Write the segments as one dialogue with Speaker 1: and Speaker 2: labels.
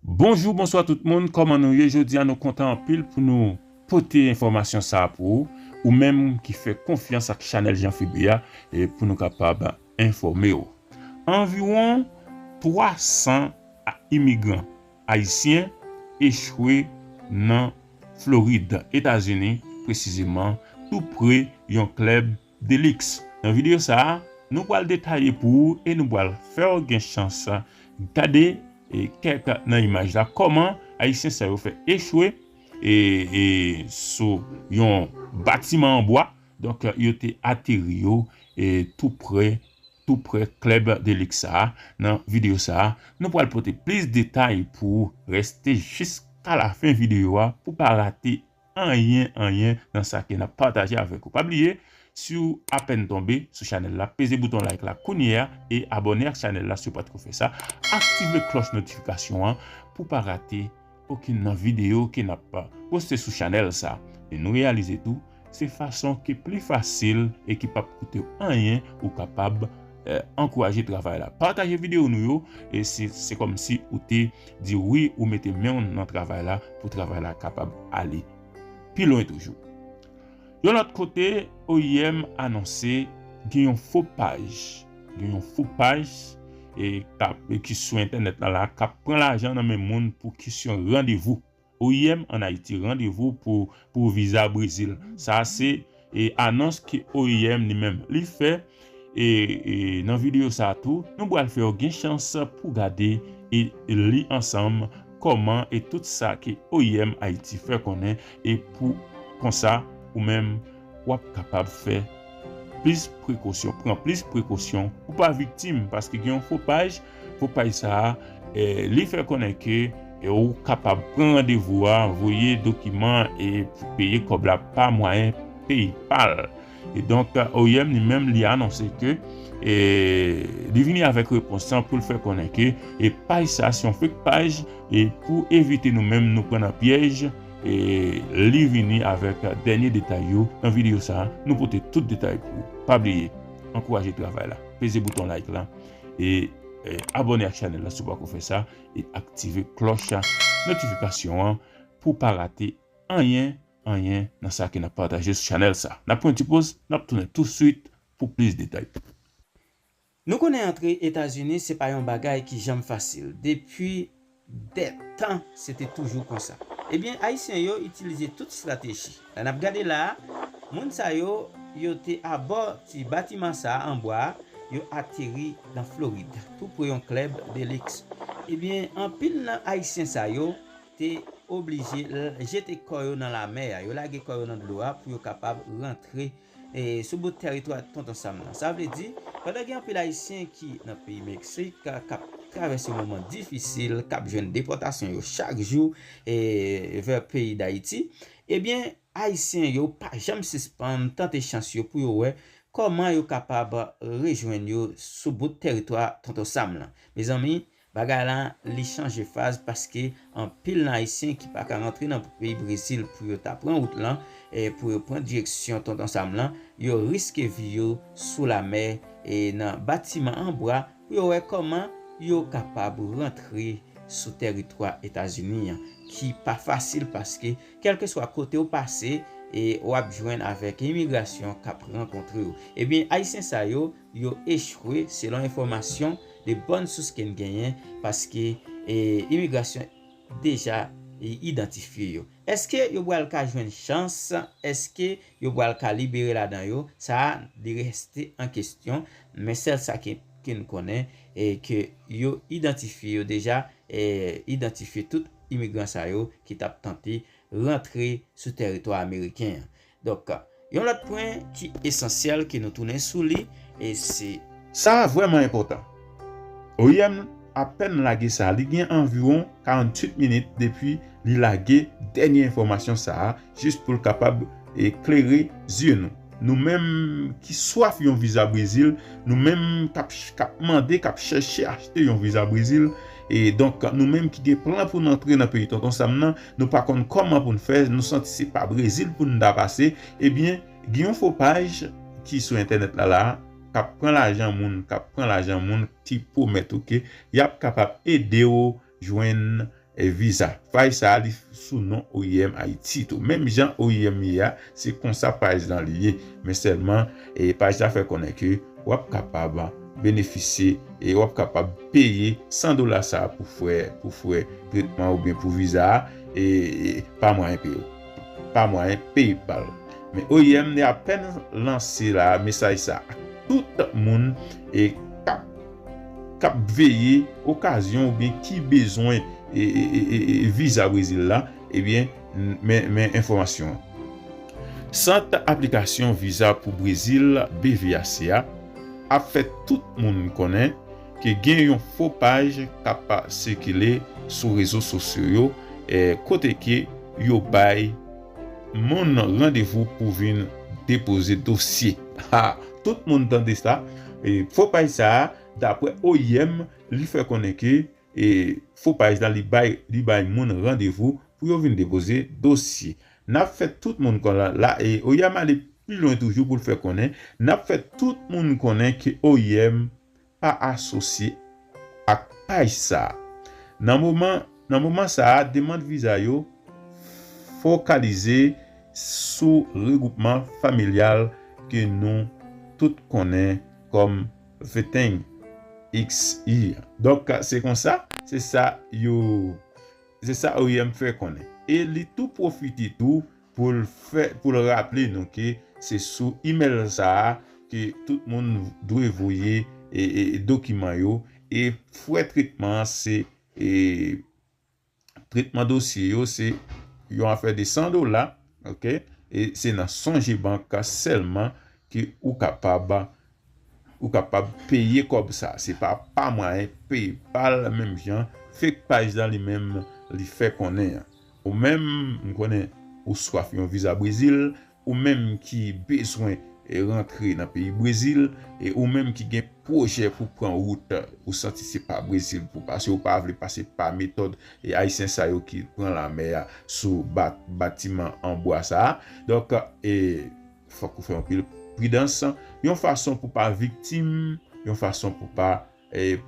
Speaker 1: Bonjou bonswa tout moun kòman nou ye jodia nou kontan anpil pou nou pote enfòmasyon sa pou ou ou menm ki fè konfyans ak chanèl Jean Phebe a pou nou kapab enfòme ou anviwon 300 imigran ayisyen echwe nan Florid etazini presizeman tou pre yon klèb Delix, Nan videyo sa a, nou pral detaye pou ou e nou pral fè w gen chans gade kèk nan imaj la kòman Ayisyen sa yo fè echwe sou yon batiman an bwa, donk yo te ateri yo tou pre tou pre klèb Delix sa a. Nan videyo sa a, nou pral pote plis detay pou ou. Reste jiska lafen videyo a pou w pa rate anyen anyen nan sa ke nap pataje avèk ou pa bliye siw apèn tonbe sou chanèl la peze bouton like la kounyea e abòne ak chanèl la siw pat ko fè sa aktive klòch notifikasyon an pou pa rate okenn nan video ke nap poste sou chanèl sa e nou reyalize tou se fason ki pli fasil e ki pap koutew anyen ou kapab Ankouraje travay la. Pataje video nou yo e si se kòm si ou te di wi ou mete menw nan travay la pou travay la kapab ale pi lwen toujou. Yon lòt kote oim anonse gen yon fo paj gen yon fo paj e ki sou entènèt la la kap pran lajan nan men moun pou kesyon randevou. Oim an Ayiti randevou pou pou viza Brezil sa se anons ke oim li menm li fè e nan videyo sa tou nou pral fèw gen chans pou gade e li ansanm kòman e tout sa ke oim Ayiti fè konnen e pou konsa ou menm Wap kapab fè plis prekosyon, pran plis prekosyon pou pa viktim paske gen yon fo paj, fo paj sa a li fè konnen ke ou kapab pran randevou a, voye dokiman an e peye kòb la pa mwayen PayPal. E donk oim li menm li anonse ke li vini avèk repons lan pou l fè konnen ke paj sa a se yon fake paj e pou evite nou menm nou pran nan pyèj, Li vini avèk dènye detay yo nan videyo sa nou pote tout detay pou ou pa bliye ankouraje travay la peze bouton like lan e abòne ak chanèl la si w pako fè sa e aktive klòch notifikasyon an pou w pa rate anyen anyen nan sa ke nap pataje sou chanèl sa nap pran yon ti poz nap tounen touswit pou plis detay.
Speaker 2: Nou konnen antre Etazini se pa yon bagay ki janm fasil, depi dè tan se te toujou konsa. Ebyen Ayisyen yo itilize tout strateji. La n ap gade la a, moun sa yo, yo te abò ti batiman sa a an bwa a, yo ateri nan Florid, tou pre yon klèb de liks. Ebyen anpil nan Ayisyen sa yo te oblije jete kò yo nan lamè a, yo lage kò yo nan dlo a pou yo kapab rantre Sou bout tèritwa Tonton Sam lan. Sa vle di, pandan gen anpil Ayisyen ki nan peyi Meksik k ap travèse yon moman difisil, k ap jwenn depòtasyon yo chak jou vè peyi Dayiti, ebyen Ayisyen yo pa janm sispann tante chans yo pou yo wè kòman yo kapab rejwenn yo sou bout tèritwa Tonton Sam lan. Mezanmi, Bagay la li chanje faz paske anpil nan ayisyen ki paka rantre nan peyi Brezil pou yo ta pran wout lan pou yo pran direksyon Tonton Sam lan, yo riske vi yo sou lamè e nan batiman an bwa pou yo wè kòman yo kapab rantre sou tèritwa Etazini an ki pa fasil paske kèlkeswa kote ou pase e wap jwenn avèk imigrasyon kap rankontre ou. Ebyen ayisyen sa yo. yo echwe selon enfòmasyon de bòn sous ken genyen paske imigrasyon deja idantifye yo eske yo bwal ka jwenn chans eske yo bwal ka libere ladan yo sa a li reste an kestyon men sèl sa ke n konnen ke yo idantifye yo deja idantifye tout imigran sa yo ki tap tante rantre sou tèritwa ameriken an Donk, yon lòt pwen ki esansyèl ke nou tounen sou li, e se. Sa a vrèman
Speaker 1: enpòtan. Oim apèn lage sa a, li gen anviwon 48 minit depi li lage dènye enfòmasyon sa a, jis pou l kapab klere zye nou. Nou menm ki swaf yon viza Brezil, nou menm k ap mande, k ap chèche achte yon viza Brezil, E donk nou menm ki gen plan pou n antre nan peyi Tonton Sam nan, nou pa konn kòman pou n fè, nou santi se pa Brezil pou n ta pase, ebyen gen yon fo paj ki sou entènèt la la a k ap pran lajan moun, k ap pran lajan moun ki pwomèt ou ke y ap kapab ede w jwenn viza. Paj sa a li sou non oim Ayiti tou, menm jan oim ye a. Se konsa paj lan li ye, men sèlman paj la fè konnen ke wap kapab benefisye e wap kapab peye 100 dola sa pou frè pou frè tretman ou byen pou viza a e pa mwayen pay pa mwayen PayPal. Men oim li apèn lanse la mesaj sa ak tout moun e kap kap veye okazyon ou byen ki bezwen e viza Brezil la e byen. Men enfòmasyon an. Sant aplikasyon viza pou Brezil, BVAC, a ap fè tout moun konnen ke gen yon fo paj k ap sikile sou rezo sosyo yo kote ke yo bay moun randevou pou vin depoze dosye. Ha! Tout moun tande sa! Fo paj sa a, dapre oim, li fè konnen ke E fo paj la li bay li bay moun randevou pou yo vin depoze dosye. N ap fè tout moun kon la e oim ale pi lwen toujou pou l fè konnen N ap fè tout moun konnen ke oim pa asosye ak paj sa a. Nan moman nan moman sa a demand viza yo fokalize sou regwoupman familyal ke nou tout konnen kòm. The thing ix here. Donk se konsa, se sa yo, se sa oim fè konnen. E li tou pwofite tou pou l fè, pou l raple nou ke se sou email sa a ke tout moun dwe voye dokiman yo e frè tretman se. Tretman dosye yo se yon afè de 100 dola ok e se nan sonje bank sèlman ke ou kapab ou kapab peye kòb sa se pa pa mwayen paypal menm jan fake page la li menm li fè konnen an ou menm m konnen ou swaf yon viza brezil Ou menm ki bezwen rantre nan peyi Brezil e ou menm ki gen pwojè pou pran wout ou santi se pa Brezil pou pase ou pa vle pase pa metòd ayisyen sa yo ki pran lamè a sou batiman an bwa sa a donk fòk ou fè anpil pridans yon fason pou pa viktim yon fason pou pa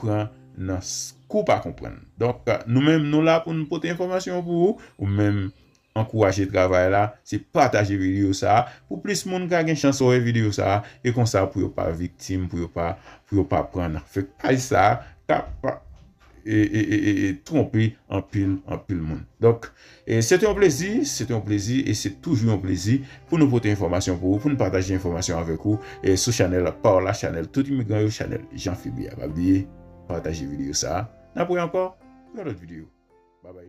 Speaker 1: pran nan kou pa konprann donk nou menm nou la pou nou pote enfòmasyon pou ou ou menm Ankouraje travay la se pataje video sa pou plis moun ka gen chans wè video sa e konsa pou yo pa viktim pou yo pa pou yo pa pran nan fek paj sa kap tronpe anpil anpil moun donk se te yon plezi se te yon plezi e se toujou yon plezi pou nou pote enfòmasyon pou ou pou nou pataje enfòmasyon avèk ou sou chanèl paw la chanèl tout imigran yo chanèl Jean Philby a pa bliye pataje video sa nap wè ankò nan lòt video babay.